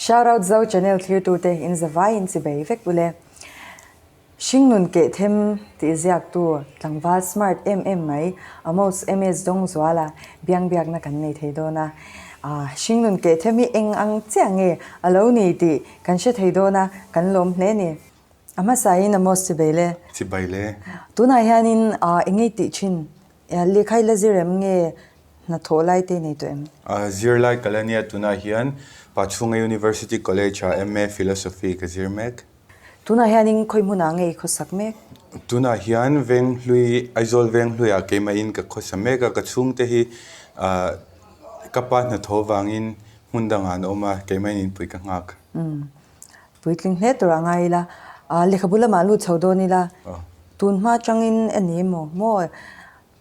Shout out Zo Channel thlirtu te in za vai in chi bei vek u le. Hringnun keh them tih ziak tu tlangval smart em em mai amots emates dawng zual a biang biak na kan nei thei dawn a ahh hringnun keh them hi eng ang chiah nge alo ni tih kan hre thei dawn a kan lawm hle ni. A hmasain a maw sibai le? Sibai le. Tunah hianin i ngei tih thin? Lehkhai la zir em nge hna thawh lai te nei tawh em? A zir lai ka la nia, tunah hian Pachunga University College ah MA Philosophy ka zir mek. Tunah hianin khawi hmunah nge i khawsak mek? Tunah hian Venghlui, Aizawl Venghlui ah keimahin ka khawsa mek a, ka chhungte hi ka pa hna thaw vangin hmun dangah an awm a, keimahin inpui ka nghak. puitling hle tur a ngai ila aa lehkhabu lamah lut chho dawn ila tun hma tangin ani emaw maw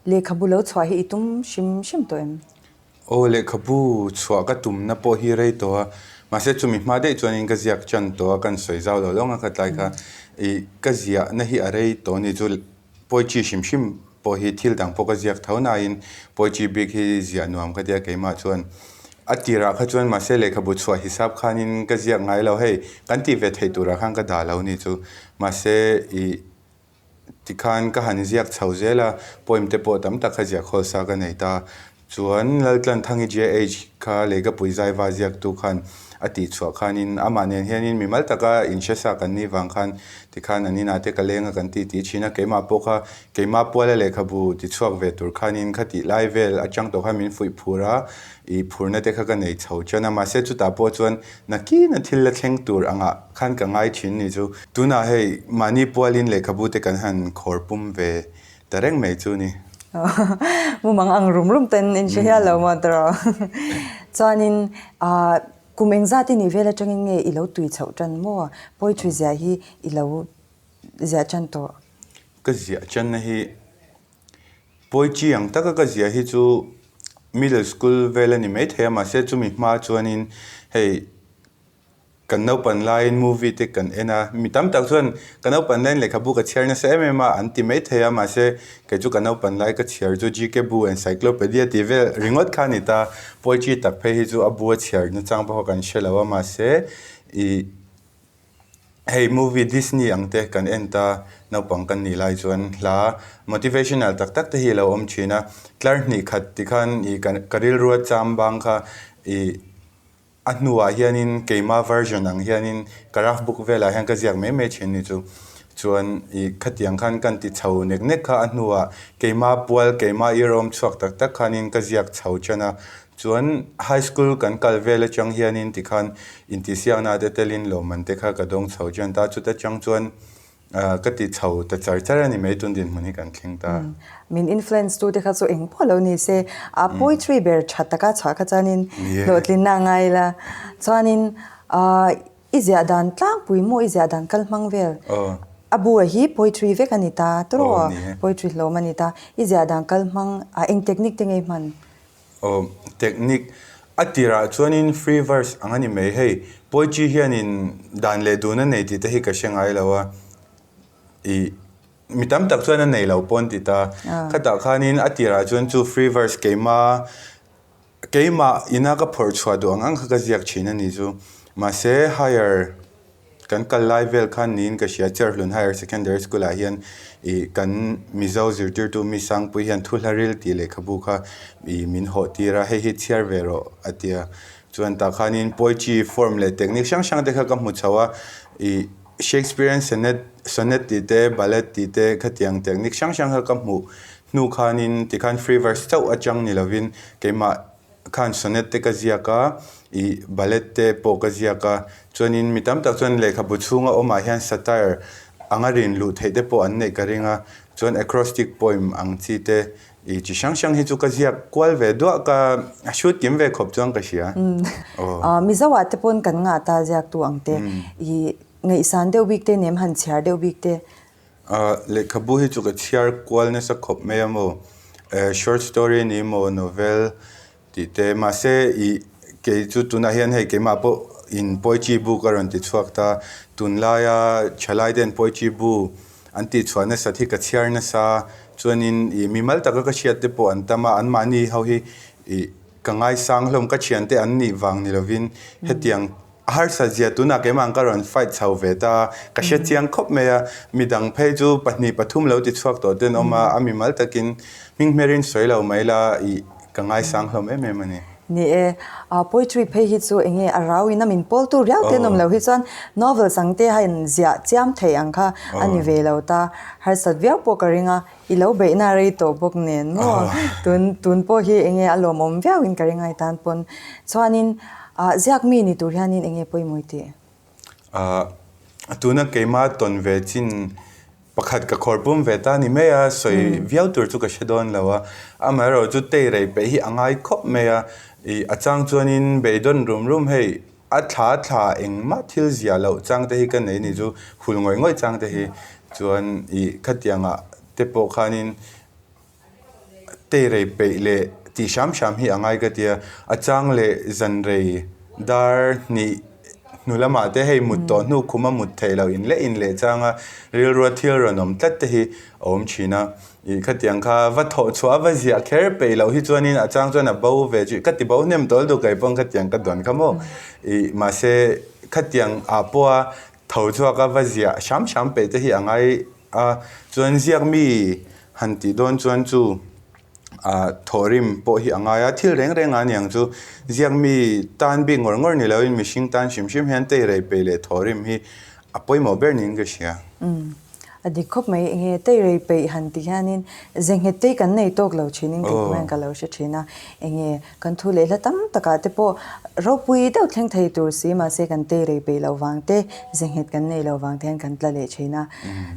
lehkhabu lo chhuah hi i tum hrim hrim tawh em? Aw lehkhabu chhuah ka tumna pawh hi rei tawh a mahse chumi hma daih chuan in ka ziak tan tawh a kan sawi zau lo lo ang a khatlai kha i ka ziahna hi a rei tawh a ni chu Poetry hrim hrim pawh hi thil dang pawh ka ziak tho nain poetry bik hi ziah nuam ka tia keimah chuan a tirah kha chuan mahse lehkhabu chhuah hisap khanin ka ziak ngai lo hei kan tih ve theih turah khan ka dah lo ni chu mahse i tikhan ka han ziak chho zel a poem te pawh tam tak kha ziah khawl sa ka nei ta. Chuan Laltlanthangi JH kha Leikapuii zaiva ziaktu khan a tihchhuah khanin, Amah nen hianin mi mal taka inhresa kan ni vang khan tikhan an inate ka lenga kan ti tih a chhin a, keimah pawh kha keimah puala lehkhabu ti chhuak ve tur khanin kha tih lai vel atang tawh khan min fuih phur a, i phurna te kha ka nei chho chuan a, mahse chutah pawh chuan nakina thil la thleng tur angah khan ka ngai thin ni chu. Tunah hei mahni pualin lehkhabu te kan han khawr pum ve Ta reng mai chu ni. Mumang ang rum rum ten in hre hial lo maw ta raw. Chuanin kum eng zati nih vel atangin nge i lo tui chhoh tan maw? Poetry ziah hi i lo ziah tan tawh. Ka ziah tanna hi, poetry ang taka ka ziah hi chu middle school vel a ni maithei a. Mahse chumi hma chuanin hei. Kan naupan laiin movie te kan en a, mi tam tak chuan ka naupan laiin lehkhabu ka chhiar nasa em em a an ti mai thei a, mahse kei chu ka naupan lai ka chhiar chu GK Bu Encyclopedia tih vel ringawt kha a ni ta, poetry tak phei hi chu a bu a chhiar na chang pawh kan hre lo a, mahse i hei movie Disney ang te kan en ta naupang kan nih lai chuan hla motivational tak tak te hi a lo awm thin a, tlar hnih khat ti khan i ka rilruah cham bang kha i. A hnuah hianin keimah version ang hianin ka rough book velah hian ka ziak mai mai thin ni chu. Chuan i khatiang khan kan ti chho nek nek kha a hnuah keimah pual keimah i rawm chhuak tak tak khanin ka ziak chho chan a. Chuan high school kan kal vel atang hianin tikhan intihsiakna te telin lawmman te kha ka dawng chho chan ta. Chuta chang chuan Ahh, ka tih chho ta char char a ni mai, tun dinhmun hi kan thleng ta. Min influence tu te kha chu eng pawh lo ni se, ahh poetry ber tha taka chhah kha chuanin hlawhtlinna a ngai la. Chuanin ahh i ziah dan tlangpui maw, i ziah dan kal hmang vel, a bu a hi poetry vek a ni ta, turaw poetry hlawm a ni ta, i ziah dan kal hmang, ahh eng technique te ngei hman? Aw, technique a tirah chuanin free verse ang a ni mai hei. Poetry hianin dan leh dun a nei tih te hi ka hre ngai lo a, ih, mi tam tak chuan a nei lo pawn ti ta. Khatah khanin a tirah chuan chu free verse keima, keimah ina ka phawrh chhuah duh ang ang kha ka ziak thin a ni chu. Mahse higher. Kan kal lai vel khan niin ka hria, Cherhlun Higher Secondary School-ah hian i kan Mizo zirtirtu Miss Sangpuii hian Thuhlaril tih lehkhabu kha i min hawhtir a, hei hi chhiar ve rawh a ti a. Chuan tah khanin poetry form leh technique hrang hrang te kha ka hmu chho a, i Shakespearean sonnet sonnet tih te, ballad tih te khatiang technique hrang hrang kha ka hmuh hnu khanin tikhan free verse chauh a chang ni lovin keimah khan sonnet te ka ziak a, ih ballad te pawh ka ziak a, chuanin mi tam tak chuan lehkhabu chhunga awmah hian satire anga rin luh theih te pawh an neih ka ring a, chuan acrostic poem ang chi te ih chi hrang hrang hi chu ka ziak kual ve duah, ka hrut kim ve khawp chuang ka hria. Aw. Aw, Mizo ah te pawn kan ngah ta ziak tu ang te, ih ngaihsan deuh bik te, nem han chhiar deuh bik te, A, lehkhabu hi chu ka chhiar kual nasa khawp mai a maw, eh, short story a ni maw, novel tih te, mahse i, kei chu tunah hian hei keimah pawh in poetry bu ka rawn ti chhuak ta, tun laia thalai ten poetry bu an tih chhuah nasat hi ka chhiar nasa, chuanin i, mi mal taka ka hriat te pawh an tam a, anmahni ho hi i, ka ngaisang hlawm ka thiante an nih vang ni lovin hetiang. A harsa zia tunah keimah ka rawn fight chho ve ta a, ka hre chiang khawp mai a, mi dang phei chu pahnih pathum lo ti chhuak tawh te'n awm a, a mi mal takin hming hmerin sawi lo mai la i ka ngaisang hlawm em em a ni. Ni e, a poetry phei hi chu enge a rau in a min pawl tu riau te'n awm lo hi chuan novels ang te hian ziah chiam theih ang kha a ni ve lo ta, harsat viau pawh ka ring a, I lo beihna rei tawh bawk nen maw? Tun tun pawh hi enge a lawmawm viauin ka ri ngai tan pawn chuanin ah ziak mi ni tur hianin enge pawimawih tih? Ah tuna keima tawn ve chin pakhat ka khawr pum ve ta ni mai a, sawi viau tur chu ka hre dawn lo a. Amaherawhchu tei rei peih hi a ngai khawp mai a, ih a chang chuanin bei dawn rum rum hei. A thla thla engmah thil ziah loh chang te hi ka nei ni chu, hul ngawih ngawih chang te hi. Chuan ih khatianga te pawh khanin tei rei peih leh tih hrâm hrâm hi a ngai ka tia, a chang leh dân rei dar hnih hnu lamah te hei mut tawh hnu khuma mut theih lo inleh inleh changa rilrua thil rawn awm tlat te hi a awm thin a. Ih khatiang kha va thawh chhuah a va ziah kher peih loh hi chuanin a chang chuan a bo ve chu ka ti bo hnem tawl duh kai pawng khatiang ka dawn kha maw ih mahse khatiang a pawha tho chhuak a va ziah hram hram peih te hi a ngai a chuan ziak mi han tih dawn chuan chu ah thawh rim pawh hi a ngai a thil reng reng ah niang chu ziak mi tan bik ngawr ngawr ni lo in mihring tan hrim hrim hian tei rei peih leh thawh rim hi a pawimawh ber niin ka hria. A dik khawp mai, enge tei rei peih han tih hianin ze nghet tei kan nei tawk lo thinin kei kawng hian ka lo hre thin a, enge kan thu leh hla tam takah te pawh ropui deuh thleng thei tur si mahse kan tei rei peih lo vang te ze nghet kan nei lo vang te hian kan tla leh thin a,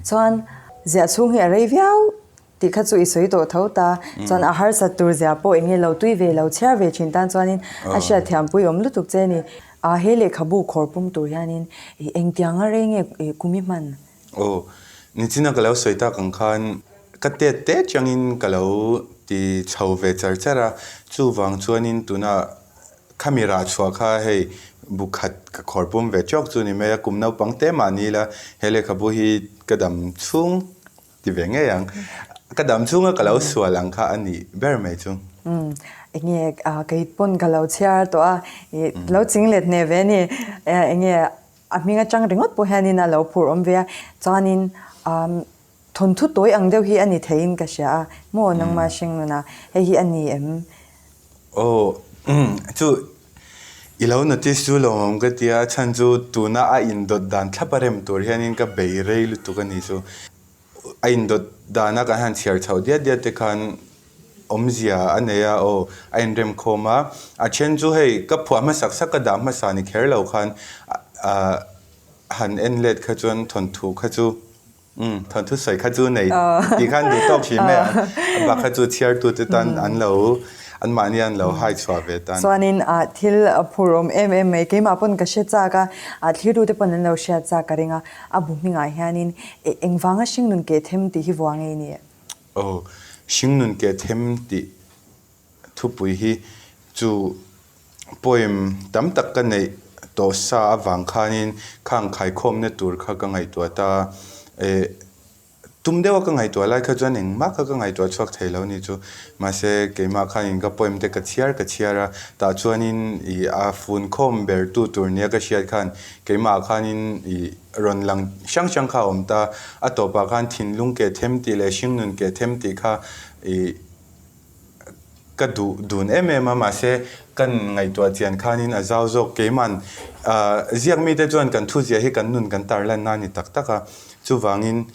chuan ze a chhung hi a rei viau. Tih kha chu i sawi tawh tho ta, chuan a harsat tur zia pawh enge lo tui ve lo chhiar ve thin tan chuanin a hriatthiampui awm lutuk che a ni. A, he lehkhabu khawr pum tur hianin i engtianga rei nge i kum i hman? Aw, nichina ka lo sawi tak ang khan ka tet tet changin ka lo ti chho ve char char a, chuvang chuanin tuna kha mi rah chhuah kha hei bu khat ka khawr pum ve chawk chu a ni mai a, kum naupang te mah nila he lehkhabu hi ka dam chhung Ti ve ngei ang. Ka dam chunga ka lo sual ang kha a nih ber mai chu. Umm, enge a kei pawn ka lo chhiar tawh a, i lo ching let hne ve ni? Enge a hming atang ringawt pawh hianin a lo phur awm ve a, chuanin umm thawnthu tawi ang deuh hi a ni theiin ka hria a, maw nangma hring nuna hei hi a ni em? Aw umm chu i lo notice chu lo awm ka tia a chhan chu tuna a in dawt dan thlap a rem tur hian in ka bei rei lutuk a ni chu. A in dawt dan a kan han chhiar chhoh diat diat te khan awmzia a nei a aw a in rem khawm a. A then chu hei ka phuah hmasak sak ka dah hmasa ni kher lo khan ahh han en let kha chuan thawnthu kha chu Umm, thawnthu sawi kha chu nei tih khan duh tawk hrim e. Bakha chu chhiartu te tan an lo, anmahni an lo hai chhuah ve tan. Chuanin thil phur awm em em mai, keimah pawn ka hre chak a, thlitu te pawn an lo hriat chak ka ring a, a bu hningah hianin e, engvanga hringnun keh them tih hi vua ngei ni e? Aw, hringnun keh them tih. Thupui hi chu poem tam tak ka neih tawh sa avang khanin khang khaikhawmna tur kha ka ngaihtuah ta. Eh, tum deuha ka ngaihtuah lai kha chuan engmah kha ka ngaihtuah chhuak thei lo ni chu. Mahse, keimah khanin ka poem te ka chhiar ka chhiar a, tah chuanin ih a fun khawm ber tu tur nia ka hriat khan keimahah khanin ih rawn lang hrang hrang kha a awm ta. A tawpah khan thinlung keh them tih leh hringnun keh them tih kha ih. ka duh dun em em a, mahse kan ngaihtuah chian khanin a zau zawk. Keiman ziak mite chuan kan thuziah hi kan nun kan tarlanna a ni tak tak a, chuvangin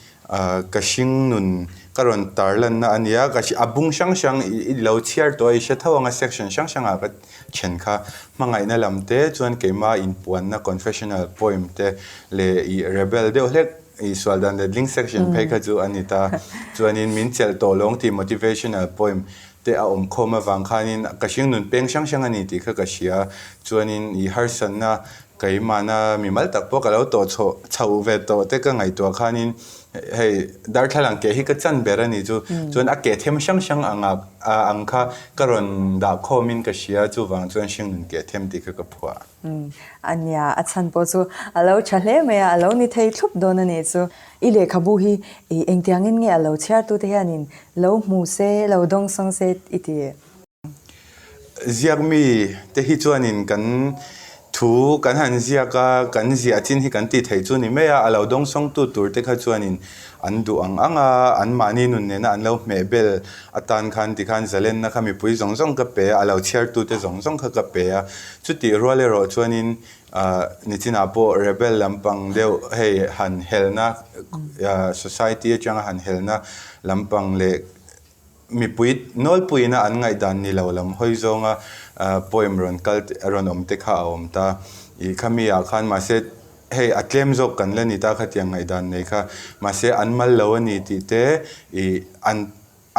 ka hring nun ka rawn tarlanna a nia, ka a bung hrang hrang i lo chhiar tawh a i hre tho ang a section hrang hrangah ka then kha. Hmangaihna lam te chuan keima inpuanna confessional poem te leh rebel deuh hlek I sual dan let ling section phei kha chu a ni ta. Chuanin min chelh tawh lawng tih motivational poem te a awm khawm avang khanin ka hring nun peng hrang hrang a ni tih kha ka hria. Chuanin i harsatna keimahna mi mal tak pawh ka lo tawh chho chhoh ve tawh te ka ngaihtuah khanin hei darthlalang ke hi ka chan ber a ni chu. Chuan a ke them hrang hrang ang ah ang kha ka rawn dah khawmin ka hria chuvang chuan hring nun ke them tih kha ka phuah. Umm, a nia, a chhan pawh chu a lo tha hle mai a, a lo ni thei thup dawn a nih chu. I lehkhabu hi ih engtiangin nge a lo chhiartute hianin lo hmu se, lo dawngsawng se i ti? Ziak mi te hi chuanin kan thu kan han ziak a, kan ziah chin hi kan tih theih chu ni mai a, a lo dawngsawngtu tur te kha chuanin An duh ang ang a, an mahni nun nena an lo hmeh bel atan khan tikhan zalenna kha mipui zawng zawng ka pe a, a lo chhiartute zawng zawng kha ka pe a. Chutih rual erawh chuanin nichinah pawh rebel lampang deuh hei han helna, society atanga han helna lampang leh Mipui nawlpuiin a an ngaihdan ni lo lam hawi zawnga poem rawn kal a rawn awm te kha a awm ta. Ih khami ah khan mahse hei a tlem zawk kan la ni ta khatiang ngaihdan nei kha mahse an mal lo a ni tih te ih an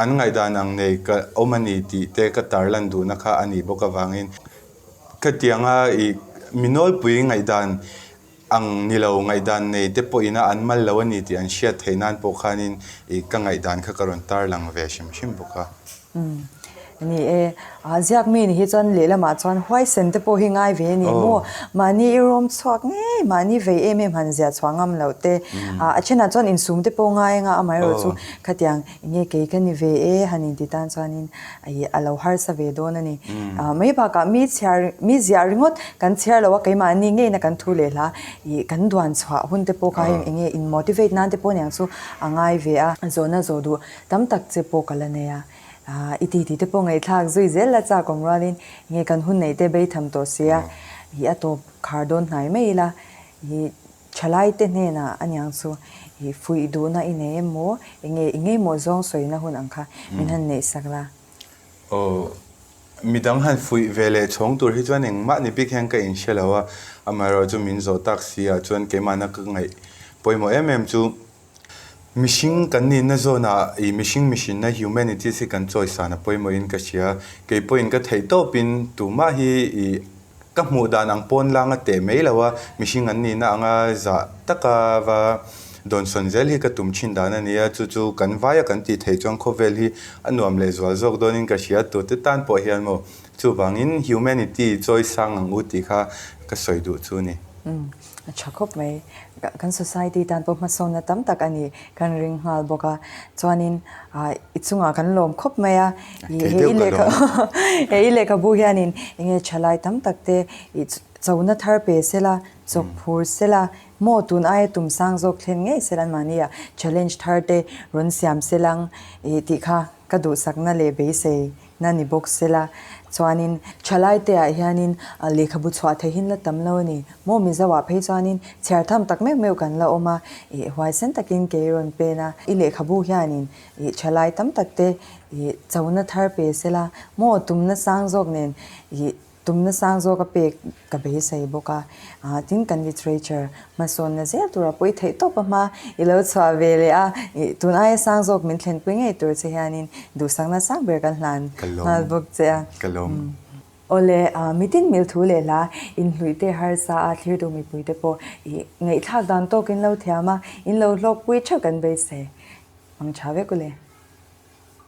an ngaihdan ang nei ka awm a ni tih te ka tar lan duhna kha a nih bawk avangin khatianga ih mi nawlpui ngaihdan Ang ni lo, ngaihdan nei te pawhina an mal lo a ni tih an hriat theih nan pawh khanin ih ka ngaihdan kha ka rawn tar lang ve hrim hrim bawk a. Umm. Ni e, a ziak mi ni hi chuan lehlamah chuan huaisen te pawh hi ngai ve a ni maw? Mahni i rawm chhuak ngei, mahni vei em em han ziah chhuah ngam loh te. A a then ah chuan insum te pawh ngai anga amaherawhchu khatiang Enge kei ka ni ve e han inti tan chuanin a lo harsa ve dawn a ni. Mai bakah mi chhiar, mi ziah ringawt kan chhiar lo a, keimahni ngeina kan thu leh hla i kan duan chhuah hun te pawh kha heng enge in motivate nan te pawh niang chu a ngai ve a. Zawhna zawh duh tam tak che pawh ka la nei a, i titi te pawh ngaihthlak zui zel la chak awm rualin enge kan hun neih te bei tham tawh sia i a tawp khar dawn hnai mai ila. Thalaite hnenah a niang chu ih fuih duhna i nei em maw, enge i ngei maw zawng sawina hun ang kha min han neih sak la. Aw, midang han fuih ve leh chhawng tur hi chuan engmah ni bik hian ka inhre lo a, amaherawhchu min zawh tak si ah chuan keimahna ka ngaih pawimawh em em chu Mihring kan nihna zawnah i mihring mihrinna, humanities, hi kan chawisan a pawimawhin ka hria. Kei pawhin ka theih tawpin tumah hi i ka hmuh dan ang pawn lang a teh mai lo a, mihring an nihna anga zah taka va dawnsawn zel hi ka tum thin dan a nia. Chu chu kan vai a kan tih theih chuan khawvel hi a nuam leh zual zawk dawnin ka hria. Tute tan pawh hian maw chuvangin humanity chawisang ang u tih kha ka sawi duh chu ni. A tha khawp mai. Kan society tan pawh hmasawnna tam tak a nih kan ring nghal bawk a. Chuanin i chungah kan lawm khawp mai a. Kei deuh ka lawm a. He i lehkhabu hianin enge tha lai tam tak te, ih chona thar pe sela, chawk phur sela, maw tun aia tum sang zawk thlen ngei sela an mahniah challenge thar te rawn siam selang, ih tih kha ka duhsakna leh beisei. Na ni bawk se la, chuanin thalai te ah hianin lehkhabu chhuah thei hin la tam lo a ni. Maw Mizo ah phei chuanin chhiar tham tak meuh meuh kan la awm a, ih huaisen takin kei rawn pen a, i lehkhabu hianin ih thalai tam tak te ih chona thar pe se la, maw tumna sang zawk nen ih. Tumna sang zawk a pek ka beisei bawk a, tin kan literature hmasawnna zel tura pawi theih tawp a hma i lo chhuah ve leh a, tun aia sang zawk min thlenpui ngei tur che hianin duhsakna sang ber kan hlan nghal bawk che a. Ka lawm. Awle, mi tinhmilh thu leh hla inhluihte harsa a thlir duh mipuite pawh i ngaihthlak dan tawk in lo thiam a, in lo hlawkpui theuh kan beisei. Hmang tha vek u le.